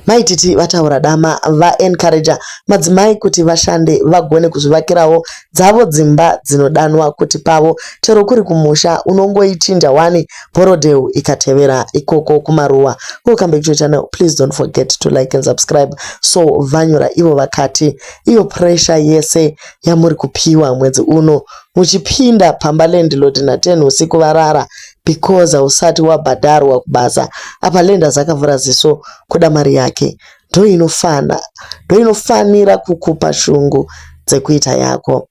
Mai Titi vataura dama va encourager madzimai kuti vashande vagone kuzvivakirawo dzavo dzimba dzinodanwa kuti pavo chero kuri kumusha unongoichinja wani bhorodheu ikatevera ikoko kumaruwa. Welcome back to your channel please don't forget to like and subscribe. So vanyora ivo vakati iyo pressure yese yamuri kupiwa mwedzi uno muchipinda pamba landlord na 10 usiku varara because hausati wabhadharwa kubasa apa lenders akavhura ziso kuda mari yake ndoinofana ndoinofanira kukupa shungu dzekuita yako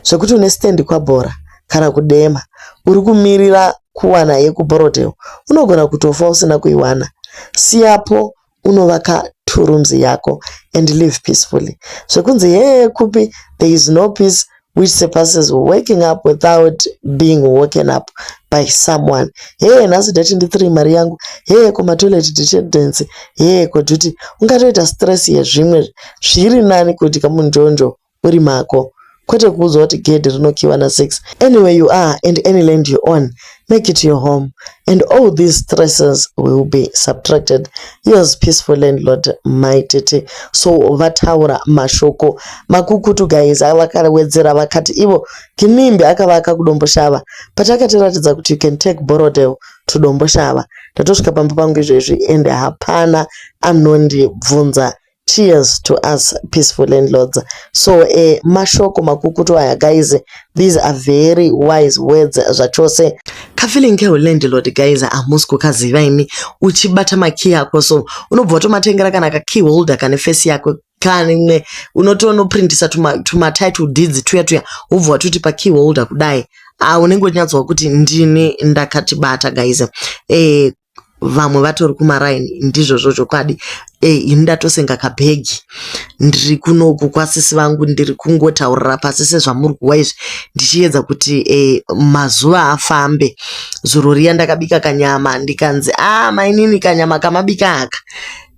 zvekuti une stand kwabhora kana kudema uri kumirira kuwana yekuborodel unogona kutofa usina kuiwana siyapo unovaka two rooms yako and live peacefully zvekunzi hee kupi there is no peace which surpasses waking up without being woken up by someone hee nhasi date ndi three mari yangu hee komatoilet detendency hee koduty ungatoita stress yezvimwe zviri nani kuti kamunjonjo uri mako kwete kuudzwa kuti gedhi rinokiiwa na six anywhere you are and any land you own make it your home and all these stresses will be subtracted yours peaceful landlord mai tete so vataura mashoko makukutu guys vakawedzera vakati ivo kinimbi akavaka kudomboshava but akatiratidza kuti you can take borodel to domboshava ndatosvika pamba pangu izvezvi ende hapana anondibvunza Cheers to us peaceful landlords. So eh, mashoko makukutu aya guys, these are very wise words zvachose. Kafeeling kehu landlord guys hamusi kukaziva imi. Uchibata makey ako so unobva watomatengera kana ka key holder kane face yako kanimwe unotonoprintisa tuma, tuma title deeds tuya tuya wobva watoti pa key holder kudai ah, unenge uchinyatsowa kuti ndini ndakatibata guys eh, vamwe vatori kumaraini ndizvozvo chokwadi eyi ini ndatosenga kabhegi ndiri kunoku kwasisi vangu ndiri kungotaurira pasi sezvamuri kuwa izvi ndichiedza kuti e, mazuva afambe zuro riya ndakabika kanyama ndikanzi a ah, mainini kanyama kamabika aka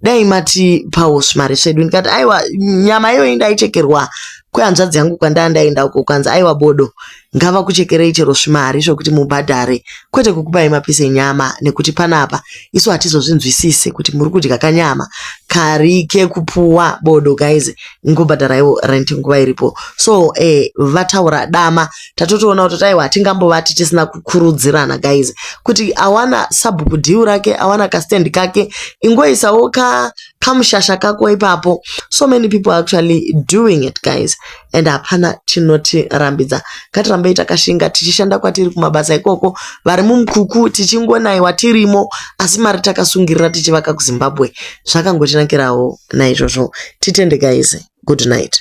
dai mati pausvi mari svedu ndikati aiwa nyama iyoyi ndaichekerwa kwehanzvadzi yangu kwandaa ndaenda uko kwanzi aiwa bodo ngavakuchekerei chero zvimari zvekuti mubhadhare kwete kukupai mapise enyama nekuti panapa isu hatizozvinzwisise kuti muri kudya kanyama kari kekupuwa bodo guys ngobhadharaiwo rent nguva iripo so eh, vataura dama tatotoona kuti taiwa hatingambovati tisina kukurudzirana guys kuti awana sabhuku dhiu rake awana kastendi kake ingoisawo ka kamushasha kako ipapo so many people actually doing it guys and hapana chinotirambidza ngatirambei takashinga tichishanda kwatiri kumabasa ikoko vari mumkuku tichingonaiwa tirimo asi mari takasungirira tichivaka kuzimbabwe zvakangotinakirawo naizvozvo titende guys good night